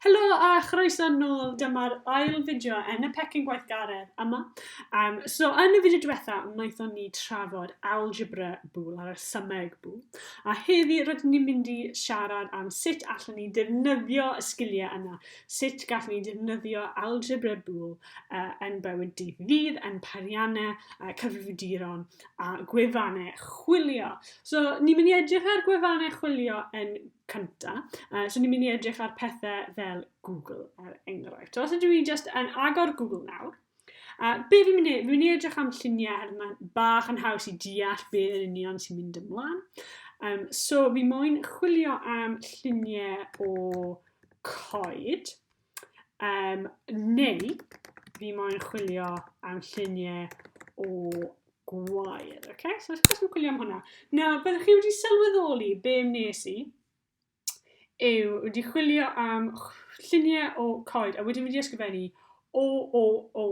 Helo a chroeso nôl, dyma'r ail fideo yn y pecyn gweithgaredd yma. Um, so yn y fideo diwetha, wnaethon ni trafod algebra bwl a rhesymeg bwl. A heddi rydyn ni'n mynd i siarad am sut allan ni defnyddio y sgiliau yna, sut gallwn ni defnyddio algebra bwl uh, yn bywyd dydd i ddydd, yn parianau, uh, cyfrifiaduron a gwefannau chwilio. So ni'n mynd i edrych ar gwefannau chwilio yn cynta. Uh, so ni'n mynd i edrych ar pethau fel Google, er enghraifft. So os ydw i just yn agor Google nawr, a uh, be fi'n mynd i, fi'n mynd i edrych am lluniau her mae'n bach yn haws i deall be yn union sy'n mynd ymlaen. Um, so fi moyn chwilio am lluniau o coed. Um, neu, fi moyn chwilio am lluniau o gwair. Okay? So, os chi'n chwilio am hwnna. Na, byddwch chi wedi sylweddoli be wnes i yw wedi chwilio am lluniau o coed a wedyn wedi ysgrifennu o, o, o,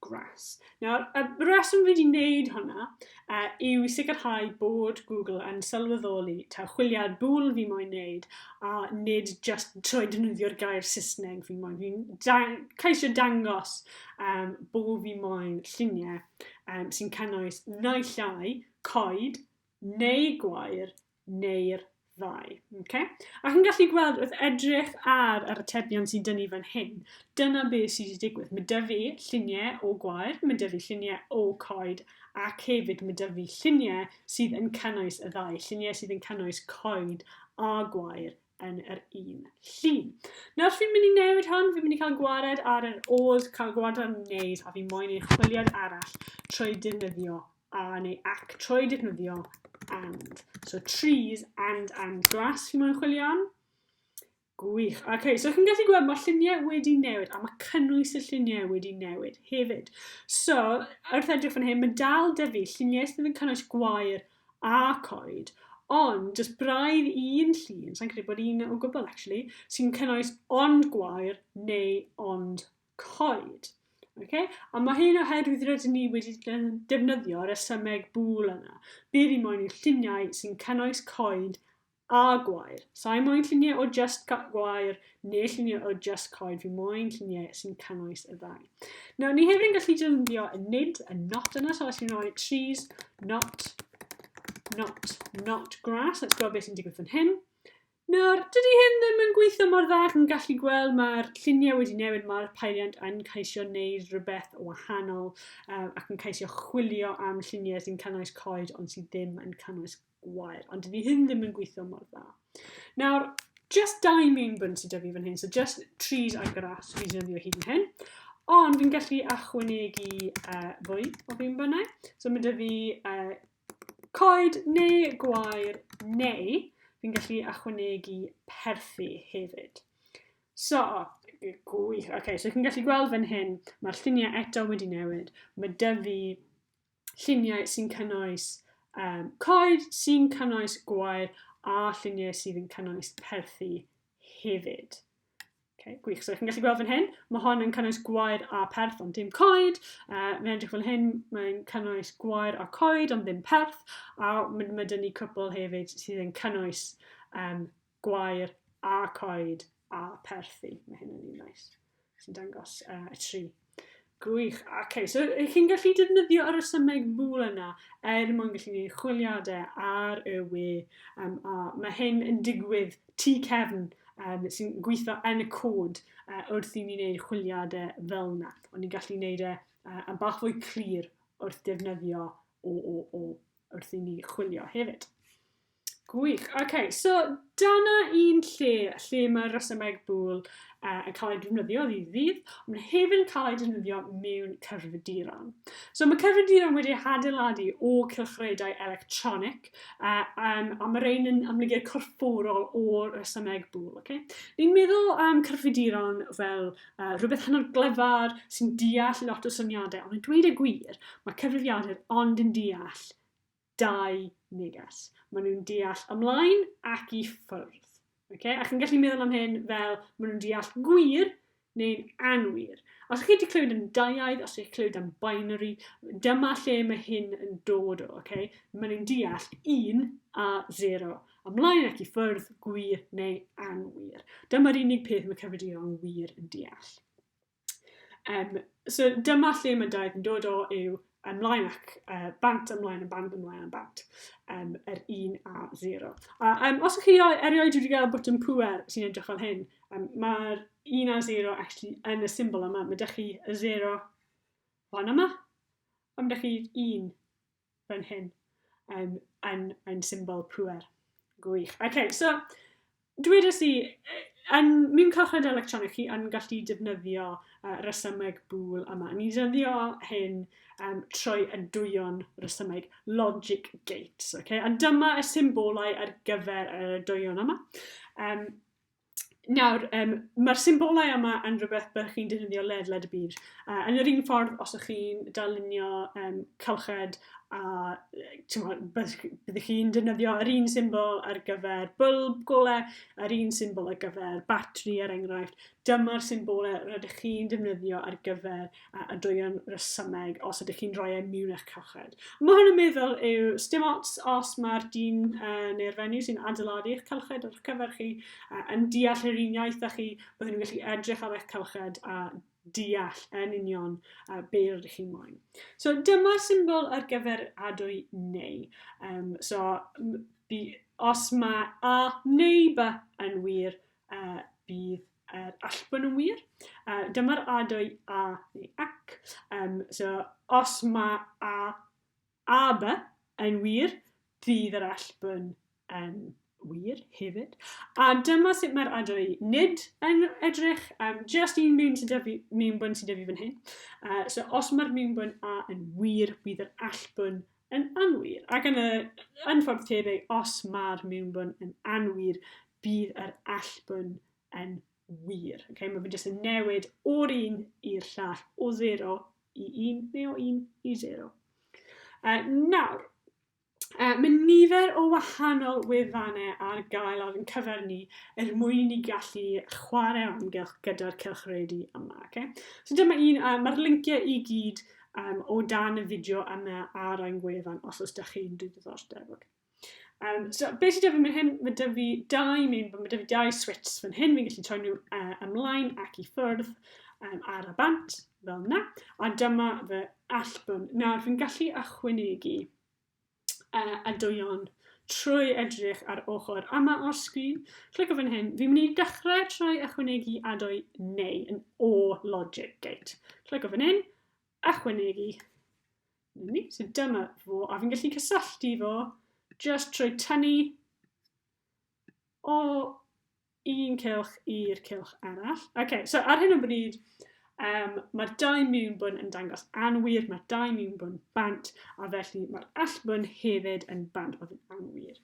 Gras. Nawr, y reswm fi wedi wneud hwnna uh, yw i sicrhau bod Google yn sylweddoli ta chwiliad bwl fi moyn wneud a nid just trwy dynyddio'r gair Saesneg fi moyn. Fi'n dang caisio dangos um, bod fi moyn lluniau um, sy'n cynnwys naill ai coed neu gwair neu'r ddau. Okay? A chi'n gallu gweld wrth edrych ar yr atebion sy'n dynnu fan hyn, dyna beth sydd wedi digwydd. Mae dy fi lluniau o gwair, mae dy fi lluniau o coed, ac hefyd mae dy fi lluniau sydd yn cynnwys y ddau, lluniau sydd yn cynnwys coed a gwair yn yr un llun. Nawr fi'n mynd i newid hwn, fi'n mynd i cael gwared ar yr odd, cael gwared ar wneud, a fi moyn ei chwiliad arall trwy defnyddio a neu ac trwy defnyddio and. So trees and and grass fi moyn chwilio am. Gwych. Oce, okay, so chi'n gallu gweld mae lluniau wedi newid a mae cynnwys y lluniau wedi newid hefyd. So, wrth edrych fan hyn, mae dal da fi lluniau sydd yn cynnwys gwair a coed, ond jyst braidd un llun, sa'n credu bod un o gwbl actually, sy'n cynnwys ond gwair neu ond coed. Okay? A mae hyn oherwydd rydyn ni wedi defnyddio resymeg bŵl yna. Bydd i moyn lluniau sy'n cynnwys coed a gwair. Sa'i moyn lluniau o just gwair neu lluniau o just coed, fi moyn lluniau sy'n cynnwys y ddau. Nawr, ni hefyd yn gallu defnyddio y nid, y not yna, so os fi'n rhoi trees, not, not, not grass, let's gweld beth sy'n digwydd fan hyn. Nawr, dydy hyn ddim yn gweithio mor dda ac yn gallu gweld mae'r lluniau wedi newid, mae'r peiriant yn ceisio wneud rhywbeth o wahanol um, ac yn ceisio chwilio am lluniau sy'n cynnwys coed ond sydd ddim yn cynnwys gwair, ond dydy hyn ddim yn gweithio mor dda. Nawr, just dau main bwnt sydd dyfu fan hyn, so just trees a grass fi'n defnyddio hyd yn hyn, ond fi'n gallu achwynegu uh, fwy o fi'n bynnau. So mae dyfu uh, Coed neu gwair neu fi'n gallu achwanegu perthi hefyd. So, gwych. OK, so chi'n gallu gweld fan hyn, mae'r lluniau eto wedi newid. Mae dyfu lluniau sy'n cynnwys um, coed, sy'n cynnwys gwair a lluniau sydd yn cynnwys perthi hefyd. Okay, gwych. So, chi'n gallu gweld fan hyn, mae hon yn cynnwys gwair a perth ond dim coed. Uh, mae'n edrych fel hyn, mae'n cynnwys gwair a coed ond ddim perth. A mae, mae dyn ni cwpl hefyd sydd yn cynnwys um, gwair a coed a perthi. Mae hyn yn un nice. Sy'n dangos uh, y tri Gwych. OK, so ych chi'n gallu defnyddio yr ysymeg mŵl yna er mwyn gallu gwneud chwiliadau ar y we. Um, a mae hyn yn digwydd tu cefn um, sy'n gweithio yn y cod uh, wrth i ni wneud chwiliadau fel yna. Ond ni'n gallu gwneud e uh, yn bach fwy clir wrth defnyddio o, o, o wrth i ni chwilio hefyd. Gwych. OK, so dyna un lle, lle mae'r rhesymeg bwl uh, yn cael ei defnyddio ddydd ddydd, ond mae hefyd yn cael ei defnyddio mewn cyfriduron. So mae cyfriduron wedi hadeiladu o cylchredau electronic, uh, um, a mae rhain yn amlygu'r corfforol o'r rhesymeg bwl. Okay? Ni'n meddwl am um, cyfriduron fel uh, rhywbeth hynod glyfar sy'n deall lot o syniadau, ond yn dweud y gwir, mae cyfrifiadur ond yn deall dau neges. Maen nhw'n deall ymlaen ac i ffwrdd. Okay? A chi'n gallu meddwl am hyn fel maen nhw'n deall gwir neu'n anwir. Os chi wedi clywed yn daiaidd, os chi'n clywed am binary, dyma lle mae hyn yn dod o. Okay? Maen nhw'n deall 1 a 0. Ymlaen ac i ffwrdd, gwir neu anwir. Dyma'r unig peth mae cyfrifion wir yn deall. Um, so dyma lle mae daeth yn dod o yw ymlaen ac uh, bant ymlaen yn bant ymlaen yn bant. Um, yr 1 a 0. A um, os ydych chi erioed wedi gael botwm pwer sy'n edrych fel hyn, um, mae'r 1 a 0 actually yn y symbol yma. Mae ydych chi y 0 fan yma, a mae ydych chi 1 fan hyn um, yn, yn symbol pwer. Gwych. OK, so dwedais i, yn mynd cychwyn electronig chi yn gallu defnyddio uh, resymeg bŵl yma. Ni defnyddio hyn um, trwy y dwyron resymeg logic gates. Okay? A dyma y symbolau ar gyfer y dwyron yma. Um, Nawr, um, mae'r symbolau yma yn rhywbeth byddwch chi'n defnyddio ledled y byd. Uh, yn yr un ffordd, os ydych chi'n darlunio um, cylched a byddwch chi'n defnyddio yr un symbol ar gyfer bylb golau, yr un symbol ar gyfer batri er enghraifft. Dyma'r symbolau rydych chi'n defnyddio ar gyfer a adwygion resymeg os ydych chi'n rhoi e miwn eich calchred. Mae hwn yn meddwl yw stim ots os mae'r dyn uh, neu'r fenyw sy'n adeiladu eich calchred ar cyfer chi uh, yn deall yr un iaith â chi, byddwn nhw'n gallu edrych ar eich calchred a deall yn union uh, be rydych chi'n moyn. So dyma'r symbol ar gyfer adwy neu. Um, so by, os mae a neu ba yn wir, A bydd yr allbwn yn wir. Uh, dyma'r adwy a neu ac. Um, so, os mae a, a by yn wir, bydd yr allbwn yn wir hefyd. A dyma sut mae'r adwy nid yn edrych, um, just un mewn sydd dyfu, mewn bwn sydd dyfu fan hyn. Uh, so, os mae'r mewn bwn a yn wir, bydd yr allbwn Yn anwir, ac yn y, yn ffordd tebyg, os mae'r mewnbwn yn anwir, bydd yr allbwn yn wir. Okay? Mae fe jyst yn newid o'r un i'r llall, o 0 i 1 neu o 1 i 0. Uh, nawr, uh, mae nifer o wahanol wefannau ar gael ar yn cyfer ni er mwyn i ni gallu chwarae o amgylch gyda'r cylchredu yma. Okay? So dyma un, uh, mae'r lynciau i gyd um, o dan y fideo yna ar ein gwefan os oes da chi'n dwi ddiddordeb. Okay. Um, so, beth sydd da fi mynd hyn? Mae da fi dau, mae da fi dau swits fan hyn, fi'n gallu troi nhw uh, ymlaen ac i ffwrdd um, ar y bant, fel yna. A dyma fy allbwn. Nawr, fi'n gallu achwynegu uh, a dwy'n trwy edrych ar ochr yma o'r sgrin, clic o fan hyn, fi'n mynd i dechrau trwy ychwanegu adoi neu yn o logic gate. Clic o fan hyn, ychwanegu. Ni, so dyma fo, a fi'n gallu cysylltu fo just trwy tynnu o un cylch i'r cylch arall. OK, so ar hyn o bryd, um, mae'r dau miwn bwn yn dangos anwir, mae'r dau miwn bwn bant, a felly mae'r allbwn hefyd yn bant bod yn anwir.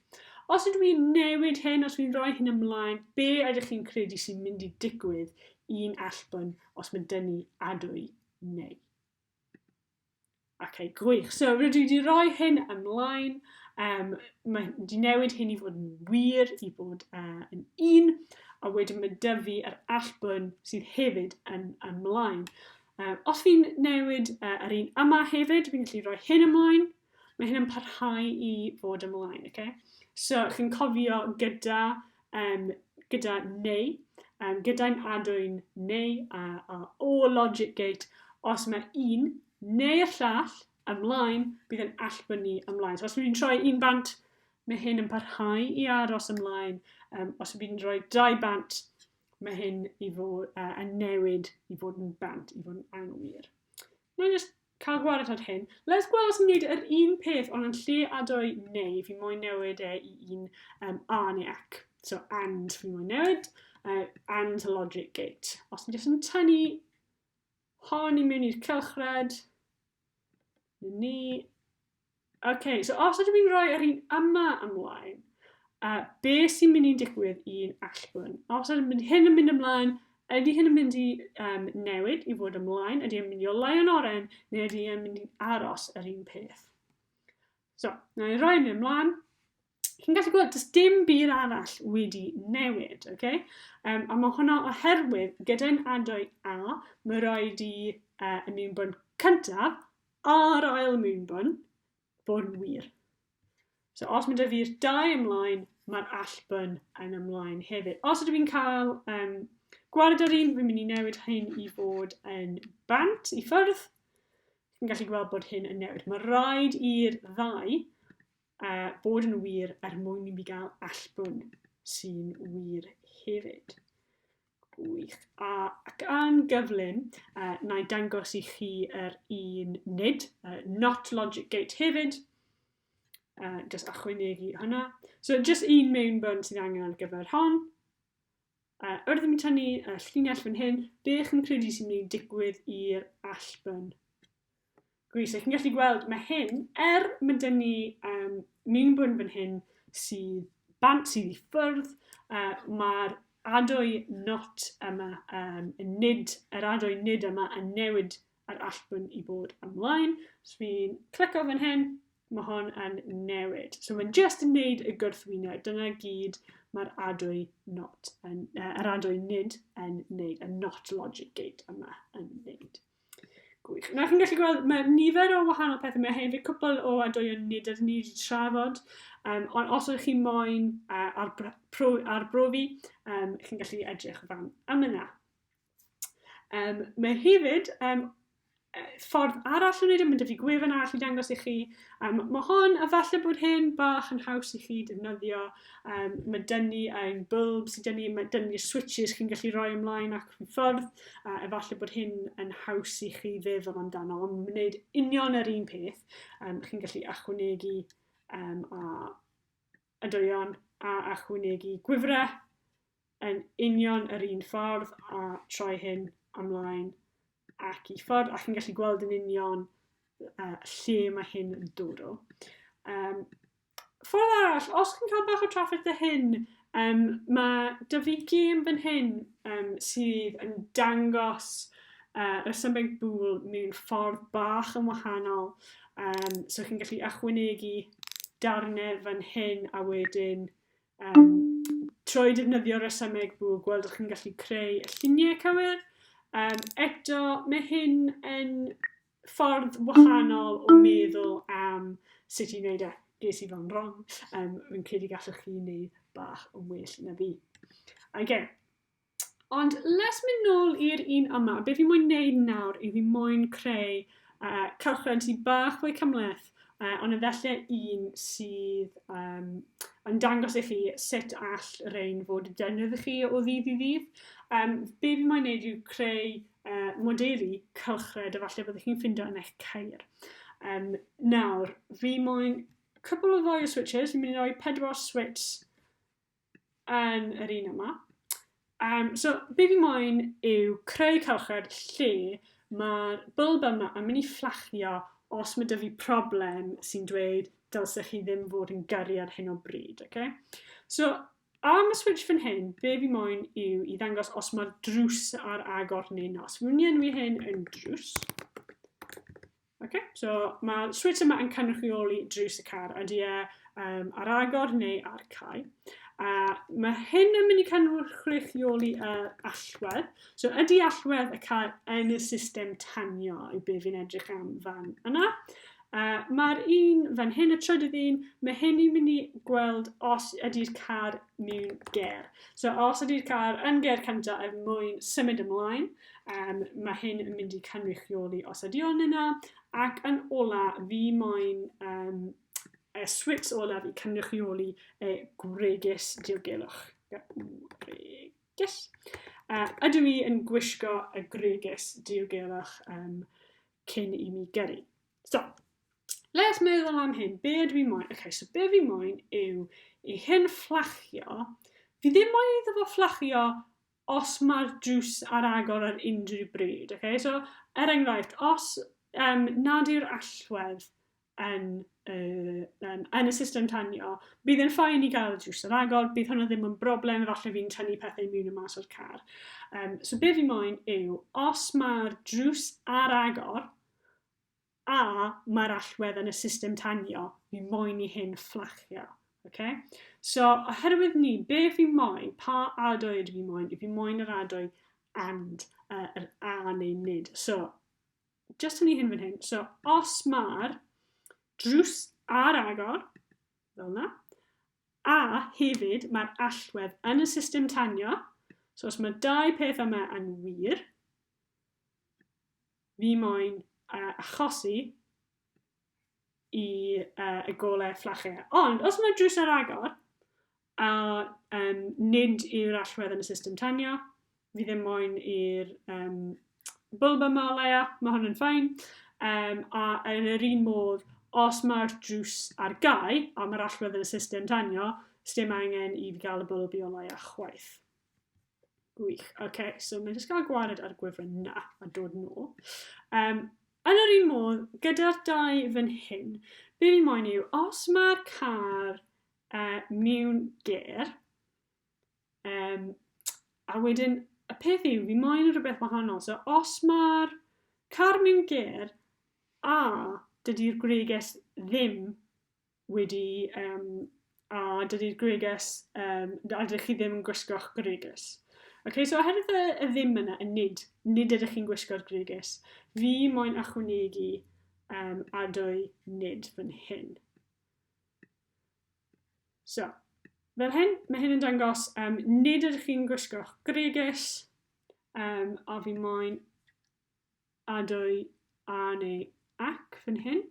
Os ydw i'n newid hyn, os dwi'n rhoi hyn ymlaen, be ydych chi'n credu sy'n mynd i digwydd i'n allbwn os mae dynnu adwy neu? Okay, gwych. So, rydw i wedi rhoi hyn ymlaen. Um, mae wedi newid hyn i fod yn wir, i fod uh, yn un, a wedyn mae dyfu yr allbwn sydd hefyd yn ymlaen. Uh, os fi'n newid uh, yr un yma hefyd, fi'n gallu rhoi hyn ymlaen. Mae hyn yn parhau i fod ymlaen, okay? So, chi'n cofio gyda um, gyda neu, um, gyda'n adwyn neu a, a o logic gate, os mae un neu'r llall ymlaen, bydd yn allbynnu ymlaen. So os bydd fi'n troi un bant, mae hyn yn parhau i aros ymlaen. Um, os bydd fi'n rhoi dau bant, mae hyn i fod uh, yn newid i fod yn bant, i fod yn anwir. Mae'n just Cael gwared ar hyn. Les gweld os yn gwneud yr un peth ond yn lle a dwy neu fi moyn newid e i un um, a neu ac. So and fi moyn newid uh, and a logic gate. Os mi jyst yn tynnu hon i mewn i'r cylchred, ni OK, so os ydym ni'n rhoi yr un yma ymlaen, uh, be sy'n mynd i'n digwydd i'n allbwn? Os ydym ni'n hyn yn mynd ymlaen, ydy hyn yn mynd i um, newid i fod ymlaen? Ydy yn mynd i olai yn oren? Neu ydy yn mynd i aros yr un peth? So, na i roi hyn ymlaen. chi'n gallu gweld, does dim byd arall wedi newid, oce? Okay? Um, a mae hwnna oherwydd gyda'n adwy A, mae rhaid i uh, y mewnbwn cyntaf a'r ail mewnbwn bod yn wir. So os mae dy fi'r dau ymlaen, mae'r allbwn yn ymlaen hefyd. Os ydw i'n cael um, gwared ar un, fi'n mynd i newid hyn i fod yn bant i ffyrdd. Fi'n gallu gweld bod hyn yn newid. Mae rhaid i'r ddau A bod yn wir er mwyn i mi gael allbwn sy'n wir hefyd. Gwych. A, ac yn gyflym, uh, na i dangos i chi yr er un nid, uh, not logic gate hefyd, uh, just achwynegu hwnna. So just un mewn bwrn sydd angen ar gyfer hon. Uh, wrth i mi tynnu uh, llinell fan hyn, be chi'n credu sy'n mynd i digwydd i'r allbwn? Gwych, so chi'n gallu gweld, mae hyn, er mae dyn ni um, mewnbwn fan hyn sydd bant sydd i ffyrdd, uh, mae'r adwy not yma, um, nid, yr adwy nid yma yn newid yr allbwn i bod ymlaen. So fi'n clico fan hyn, mae hon yn newid. So mae'n just yn neud y gwrthwyneb. Dyna gyd mae'r adwy not, yn, uh, yr adwy nid yn neud, y not logic gate yma yn neud. Gwych. Na, chi'n gallu gweld, mae nifer o wahanol pethau. Mae hefyd cwpl o adwy'n nid ydyn ni wedi trafod. Um, ond os ydych chi'n moyn uh, ar, pro, ar brofi, um, chi'n gallu edrych o fan am yna. Um, mae hefyd um, ffordd arall o wneud yn mynd i gwefan arall i dangos i chi. Um, mae hon, a falle bod hyn bach yn haws i chi defnyddio Um, mae dyn ni ein bulbs, dyn ni, mae dyn ni'r switches chi'n gallu rhoi ymlaen ac yn ffordd, a efallai bod hyn yn haws i chi feddwl amdano, ond mae'n gwneud union yr un peth. Um, chi'n gallu achwnegu um, a adoion a achwnegu gwifrau yn union yr un ffordd a troi hyn ymlaen ac i ffordd ac yn gallu gweld yn union uh, lle mae hyn yn dod o. Um, ffordd arall, os chi'n cael bach o trafferth y hyn, um, mae dy fi gêm fan hyn um, sydd yn dangos uh, resymeg bŵl mewn ffordd bach yn wahanol. Um, so chi'n gallu ychwanegu darnau fan hyn a wedyn Um, trwy defnyddio resymeg bw, gweld ydych chi'n gallu creu y lluniau cywir. Um, eto, mae hyn yn ffordd wahanol o meddwl am sut i wneud e. Ges i fo'n wrong, um, fi'n credu gallwch chi wneud bach yn well na fi. Again, Ond let's mynd nôl i'r un yma. Be fi moyn neud nawr i fi moyn creu uh, cylchred sydd bach fwy cymleth, uh, ond efallai un sydd um, yn dangos i chi sut all rein fod y defnydd i chi o ddydd i ddydd. Um, be fi moyn neud yw creu uh, modelu cylchred efallai byddwch chi'n ffindo yn eich cair. Um, nawr, fi moyn cwbl o ddoi o switches, fi'n mynd i roi pedwar switch yn yr un yma. Um, so, be fi moyn yw creu cylchred lle mae'r bylb yma yn mynd i fflachio os mae dyfu problem sy'n dweud dylsech chi ddim fod yn gyrru ar hyn o bryd. Okay? So, am y switch fan hyn, be fi moyn yw i ddangos os mae'r drws ar agor neu nos. Fi'n mynd i enwi hyn yn drws. Oce, so mae'r switch yma yn cynrychioli drws y car, ydy e um, ar agor neu ar cael. A mae hyn yn mynd i cynrychioli uh, allwedd. So ydy allwedd y car yn y system tanio i be fi'n edrych am fan yna. Uh, Mae'r un fan hyn, y trydydd un, mae hyn i'n mynd i gweld os ydy'r car mewn ger. So os ydy'r car yn ger cyntaf er mwyn symud ymlaen, Um, mae hyn yn mynd i cynrychioli os ydy o'n yna, ac yn ola fi moyn um, y swits olaf i cynrychioli y gwregys diogelwch. Gwregys. Uh, ydw i yn gwisgo y gwregys diogelwch um, cyn i mi gyrru. So, let's meddwl am hyn. Be ydw i moyn? Okay, so be fi moyn yw i hyn fflachio. Fi ddim moyn iddo fo fflachio os mae'r drws ar agor ar unrhyw bryd. Okay? So, er enghraifft, os um, nad yw'r allwedd yn, uh, um, yn y system tanio, bydd yn ffain i gael y drws ar agor, bydd hwnna ddim yn broblem, efallai fi'n tynnu pethau mewn y mas o'r car. Um, so be fi moyn yw, os mae'r drws ar agor, a mae'r allwedd yn y system tanio fi moyn i hyn fflachio. Okay? So, oherwydd ni, be fi moyn, pa adoed fi moyn, fi moyn yr adoi and, uh, yr a neu nid. So, just yn ei hyn fan hyn, so os mae'r drws ar agor, fel yna, a hefyd mae'r allwedd yn y system tanio, so os mae dau peth yma yn wir, Ni moyn uh, achosi i uh, y golau fflachau. Ond os mae drws ar agor, a um, nid yw'r allwedd yn y system tanio, fi ddim moyn i'r um, bwlb yma o leia, mae hwn yn ffain. Um, a yn yr un modd, os mae'r drws ar gau a mae'r allwedd yn y system tanio, sdim angen i fi gael y bwlb i o leia chwaith. Gwych. OK, so mae'n jyst cael gwared ar gwefan na a dod nôl. Um, yn yr un modd, gyda'r dau fan hyn, be fi'n moyn yw, os mae'r car uh, mewn ger, um, a wedyn y peth yw, fi'n moyn rhywbeth wahanol. So os mae'r car mewn ger, a dydy'r greges ddim wedi yym a dydy'r gwregys yym a dydych chi ddim yn gwisgo'ch gwregys. Ok, so oherwydd y, y ddim yna, y nid, nid ydych chi'n gwisgo'r gwregys, fi moyn achwnegu um, adwy nid fan hyn. So, fel hyn, mae hyn yn dangos um, nid ydych chi'n gwisgo'ch gwregys, um, a fi moyn adwy a neu ac fan hyn.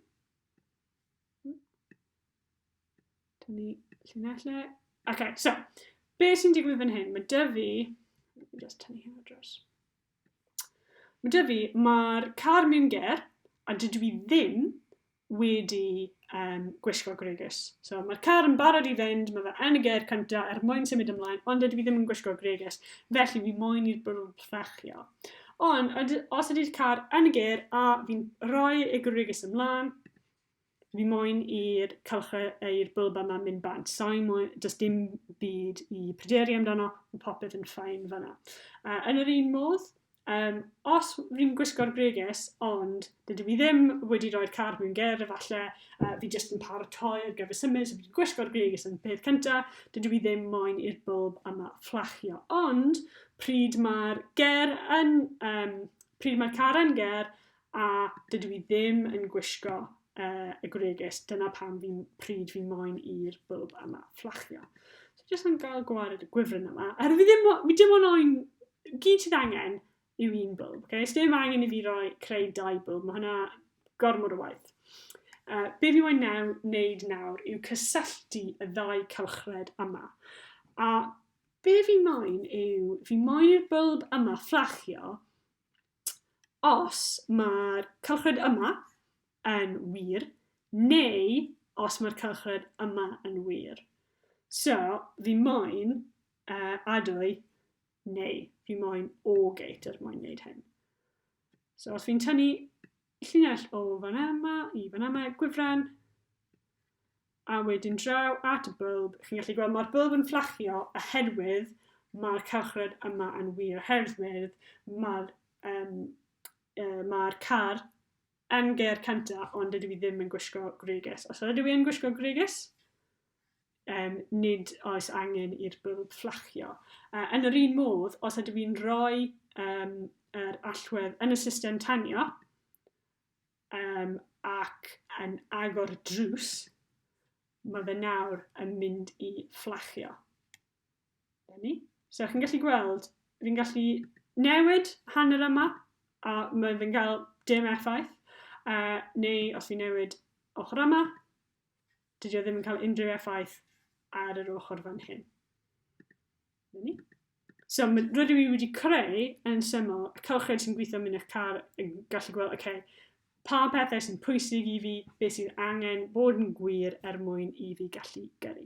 Dyn ni llinell le. OK, so, be sy'n digwydd fan hyn? Mae dy fi... Just tynnu hyn o dros. Mae dy fi, mae'r car mewn ger, a dydw i ddim wedi um, gwisgo gregus. So mae'r car yn barod i fynd, mae fe yn y ger cyntaf er mwyn symud ymlaen, ond dydw i ddim yn gwisgo gregus, felly fi moyn i'r bwrw ffrachio. Ond os ydy'r car yn y ger a fi'n rhoi y gwrygys ymlaen, fi moyn i'r cylchau i'r bylb yma mynd bant. Sa'i moyn, does dim byd i pryderu amdano, mae popeth yn ffain fanna. Uh, yn yr un modd, um, os fi'n gwisgo'r gwrygys, ond dydw i ddim wedi rhoi'r car mewn ger, efallai uh, fi jyst yn paratoi ar gyfer symud, so fi'n gwisgo'r gwrygys yn peth cyntaf, dydw i ddim moyn i'r bylb yma fflachio. Ond, Pryd mae'r ger yn... Yym, pryd mae'r car yn ger a dydw i ddim yn gwisgo uh, y gwregys, dyna pam fi, pryd fi moyn i'r bwlb yma fflachio. So, jyst yn gael gwared y gwifryn yma. Er fi ddim, fi dim ond oen, gyd sydd angen yw un bwlb. Okay? Ys dim angen i fi roi creu dau bwlb, mae hwnna gormod o waith. Uh, be fi moyn naw, wneud nawr yw cysylltu y ddau cylchred yma. A Be fi moyn yw, fi moyn i'r bylb yma fflachio os mae'r cylchred yma yn wir, neu os mae'r cylchred yma yn wir. So, fi moyn uh, adwy neu fi moyn o gate er mwyn wneud hyn. So os fi'n tynnu Llinell o fan yma i fan yma, gwifren, a wedyn draw at y bylb. Chi'n gallu gweld mae'r bylb yn fflachio oherwydd mae'r cylchred yma yn wir, oherwydd mae'r um, e, ma car yn geir cynta, ond dydw i ddim yn gwisgo gwregys. Os ydw i yn gwisgo gwregys, um, nid oes angen i'r bylb fflachio. Uh, yn yr un modd, os ydw i'n rhoi um, yr allwedd yn y system tanio um, ac yn agor drws, mae fe nawr yn mynd i fflachio. Dyna So, chi'n gallu gweld, fi'n gallu newid hanner yma, a mae fe'n cael dim effaith, uh, neu os fi'n newid ochr yma, Dydy o ddim yn cael unrhyw effaith ar yr ochr fan hyn. Dyna ni. So, rydw i wedi creu yn syml y cylched sy'n gweithio mynd eich car yn gallu gweld, oce, okay, pa pethau sy'n pwysig i fi, beth sydd angen bod yn gwir er mwyn i fi gallu gyrru.